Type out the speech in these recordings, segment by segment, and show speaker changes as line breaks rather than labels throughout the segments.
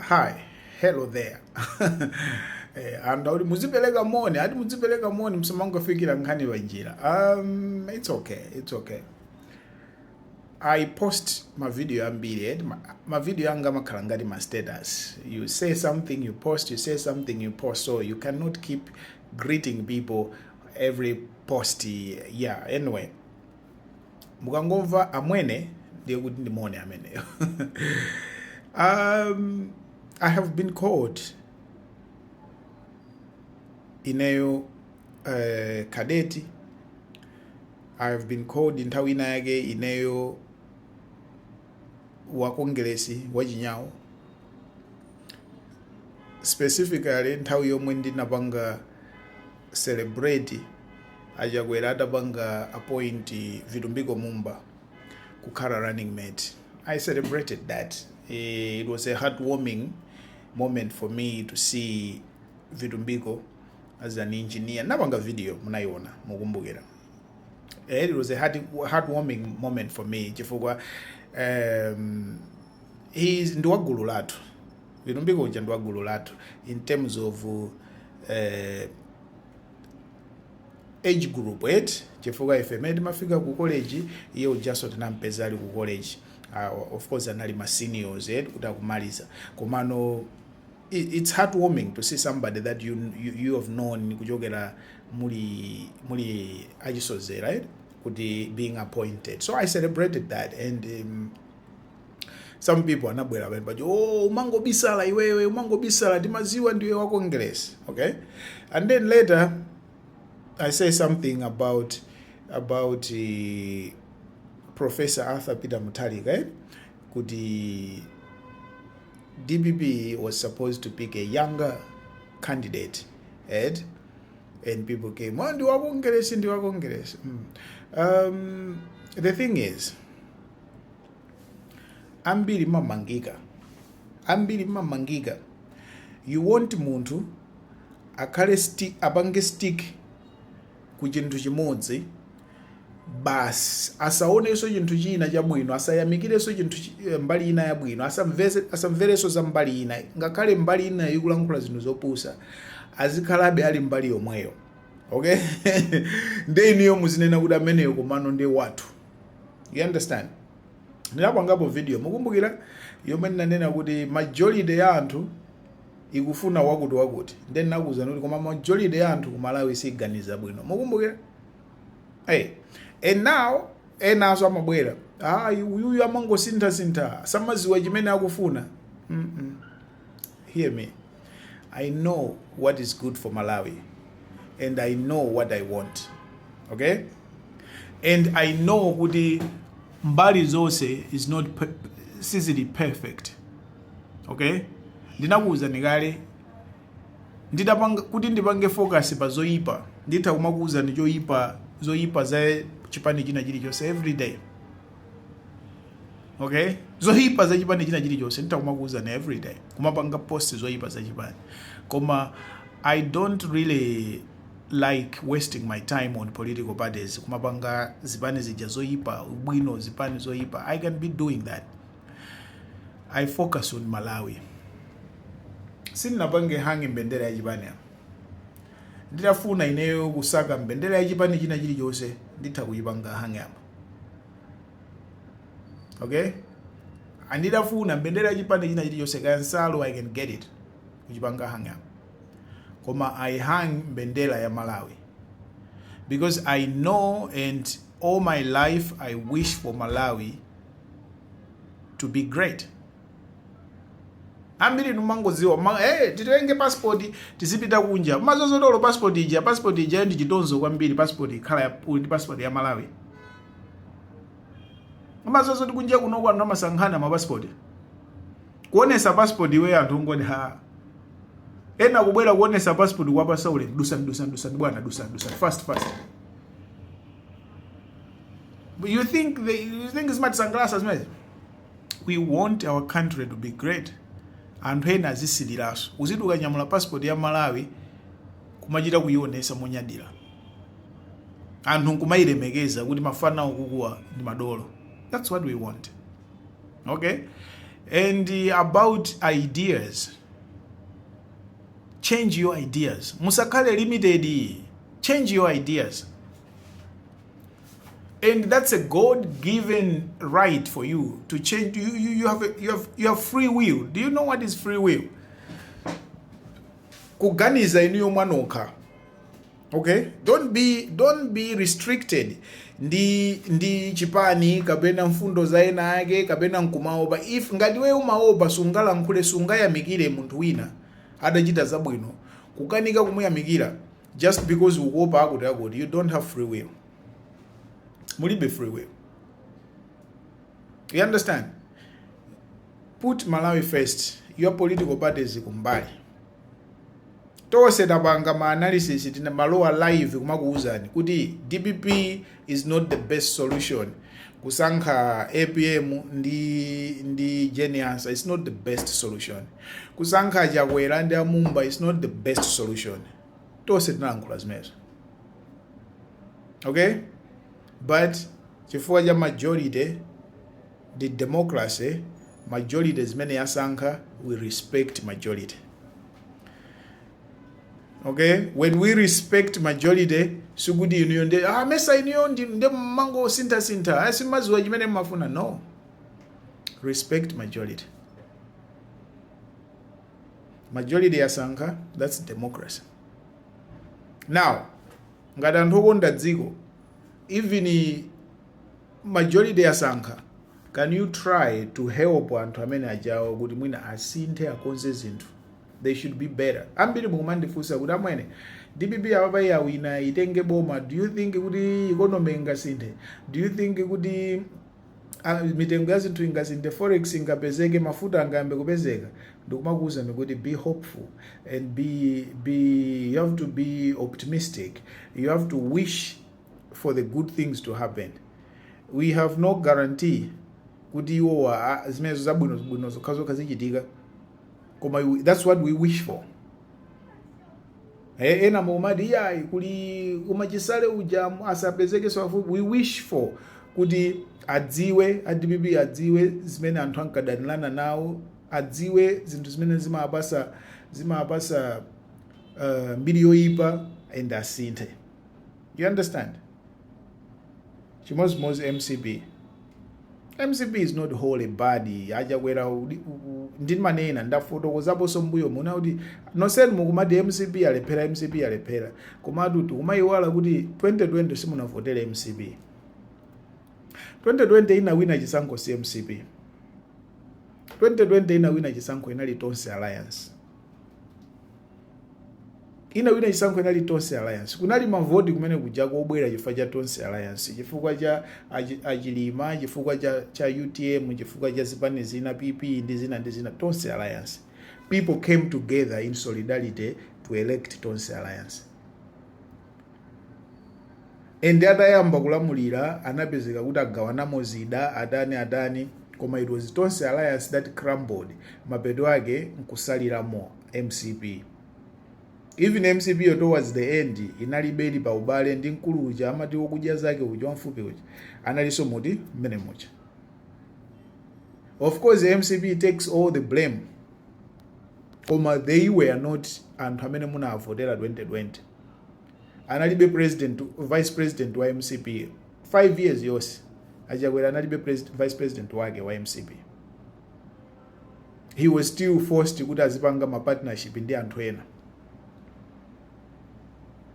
Hi, hello there. eh, and auti muzipeleka moni, ati muzipeleka moni msamangofikira nkhani wa njira. Um, it's okay, it's okay. I post ma video ambiri, eh, ma, ma video anga makhala ngati ma status. You say something, you post, you say something, you post. So you cannot keep greeting people every post. Yeah, anyway. mukangomva amwene ndiye kuti ndi moni ameneyo um, i have been called ineyo uh, cadet i have been called nthawi ina yake ineyo wa kongeresi wa Chiyawo specifically nthawi yomwe ndinapanga celebrate a Chakwera atapanga appoint Vitumbiko Mumba kukhala running mate. I celebrated that. Eh, it was a heartwarming moment for me to see Vitumbiko as an engineer. Napanga video munaiona mukumbukira. Eh, it was a heart, heartwarming moment for me chifukwa um, he is ndi wagulu lathu Vitumbiko uja ndi wa gulu lathu in terms of eh, age group eti chifukwa ife mene timafika ku college iye ujaso tinampeza ali ku college uh, of course anali ma seniors eti kuti akumaliza komano i- it's heartwarming to see somebody that you, you, you have known kuchokera muli muli achisozera right kuti being appointed so i celebrated that and um, some people anabwera pamene paja oh umangobisala iwewe umangobisala ndimaziwa ndiwe wa congress okay and then later i say something about about uh, professor arthur peter mutalika eh? kuti dpp was supposed to pick a younger candidate right? and people came oh ndiwa congress ndiwa congress mm. um, the thing is ambiri mumamangika ambiri mumamangika you want munthu akhale sti, apange stick ku chinthu chimodzi basi asaonenso chinthu china chabwino asayamikirenso chinthu chi- eh, mbali ina yabwino asamvese- asamverenso za mbali ina ngakhale mbali ina ikulankhula zinthu zopusa azikhalabe ali mbali yomweyo okay nde inuyo muzinena kuti ameneyo komano ndi wathu you understand ndinapangapo video mukumbukira yomwe ndinanena kuti majority ya anthu ikufuna wakuti wakuti nde ndinakuwuzani kuti koma majority ya anthu ku malawi siganiza bwino mukumbukira hey. and now enaso amabwera ayi, uyuyu amangosinthasintha samaziwa chimene akufuna mm -mm. hear me I know what is good for Malawi and I know what I want. Okay? And I know kuti mbali zonse is not per sizili perfect. Okay? Ndinakuwuzani kale nditapanga kuti ndipange focus pa zoyipa nditha kumakuwuzani choyipa zoyipa za chipani china chilichonse every day okay zoyipa za chipani china chilichonse nditha kumakuwuzani every day kumapanga post zoyipa za chipani koma i don't really like wasting my time on political parties kumapanga zipani zija zoyipa ubwino zipani zoyipa i can't be doing that i focus on malawi sindinapange hang mbendera ya chipani apa nditafuna ineyo kusaka mbendera ya chipani china chilichonse nditha kuyipanga hang apa okay andidafuna mbendera chipande china chilichonse kaya nsalu i can get it kuchipanga hang up koma i hang mbendera ya malawi because i know and all my life i wish for malawi to be great ambiri numangoziwa ma, hey, eh, titenge passport tizipita kunja mmadziwa zoti passport ija passport ija ndi chitonzo kwambiri passport ikhala ya ndi passport ya Malawi mmadziwa zoti kunja kuno anthu amasankhana ma passport kuonesa passport iwe anthu nkuti ha ena kubwera kuonesa passport kwa pasaule dusa dusa dusa bwana dusa dusa fast fast But you think the, you think zimatisangalatsa zimenezi we want our country to be great anthu ena azisiliranso uziti ukanyamula passport ya malawi kumachita kuyionesa monyadira anthu nkumayilemekeza kuti mafana awo akukuwa ndi madolo that's what we want okay and uh, about ideas change your ideas musakhale limited change your ideas and that's a god given right for you to change you, you, you, have, a, you, have, you have free will do you know what is free will kuganiza inuyo mwanokha okay don't be don't be restricted ndi ndi chipani kapena mfundo za ena ake kapena nkumaopa if ngati wewe umaopa sungalankhule sungayamikire munthu wina adachita zabwino kukanika kumuyamikira just because ukuopa akuti akuti you don't have free will mulibe free will you understand put malawi first your political parties kumbali tose tapanga ma analysis timalowa live kumakuuzani kuti dpp is not the best solution kusankha apm ndi ndi Jane Ansah is not the best solution kusankha chakwera ndi amumba is not the best solution tonse tinalankhula zimenezo okay but chifukwa cha majority ndi democracy majority zimene yasankha we respect majority okay when we respect majority sikuti inuyo nde ah, mesa inuyo ndi- nde mmango sintha sintha ah, simmaziwa chimene mmafuna no respect majority majority yasankha that's democracy now ngati anthu okonda dziko even i- majority yasankha can you try to help anthu amene ajawo kuti mwina asinthe akonze zinthu They should be better. Ambiri mukumandifunsa kuti amwene dpp apapa yawina itenge boma do you think kuti economy ingasinthe do you think kuti ah, mitengo ya zinthu ingasinthe forex ingapezeke mafuta angayambe kupezeka ndikumakuwuzani kuti be hopeful and be, be you have to be optimistic you have to wish for the good things to happen we have no guarantee kuti iwowa ah, zimenezo zabwino bwino zokha zokha zichitika koma iwe- that's what we wish for Eh, ena mukumati iyayi kuli umachisale uja mu- asapezekenso pafupi we wish for kuti adziwe adpp adziwe zimene anthu ankadanirana nawo adziwe zinthu zimene zimawapasa zimawapasa uh, mbiri yoyipa and asinthe you understand chimozimozi mcp mcp is not wholly bad achakwera udi- u- u- ndimanena ndafotokozaponso mbuyo muno kuti nonsenu mukumati mcp yalephera mcp yalephera komatu tikumayiwala kuti 2020 simunavotere mcp 2020 inawina chisankho si mcp 2020 inawina chisankho inali tonse alliance inawina chisankho inali tonse alliance kunali mavoti kumene kujako obwera chifukwa cha tonse alliance chifukwa cha achi- achilima chifukwa cha, cha utm chifukwa cha zipani zina pp ndi zina ndi zina tonse alliance people came together in solidarity to elect tonse alliance And atayamba kulamulira anapezeka kuti agawanamo zida adani adani koma it was Tonse Alliance that crumbled mapeto ake nkutsaliramo mcp even mcpyo towards the end inalibe ili pa ubale ndi mkulu uja amati wokudya zake uja wamfupi uja analinso momwemo mmene muja of course mcp takes all the blame koma they were not anthu amene munawavotera 2020 analibe president vice president wa mcp 5 years yonse achakwera analibe president, vice president wake wa mcp he was still forced kuti azipanga mapartnership ndi anthu ena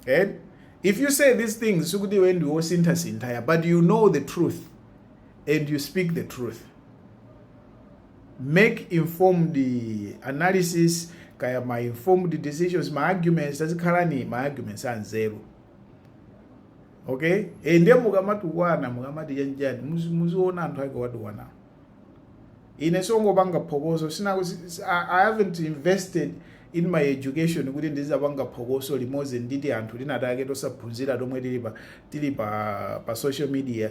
and if you say these things sikuti iwe ndi wosinthasintha but you know the truth and you speak the truth make informed analysis kaya ma informed decisions ma argument muzikhala ndi ma arguments anzeru okay e ndiye mukamatukwana mukamati chani chani muzi- muziona anthu ake owatukwana ine siwongopanga phokoso sina si- si- I, i haven't invested in my education kuti ndizipanga phokoso limodzi ndi tianthu tinatake tosaphunzira tomwe tili pa tili pa pa social media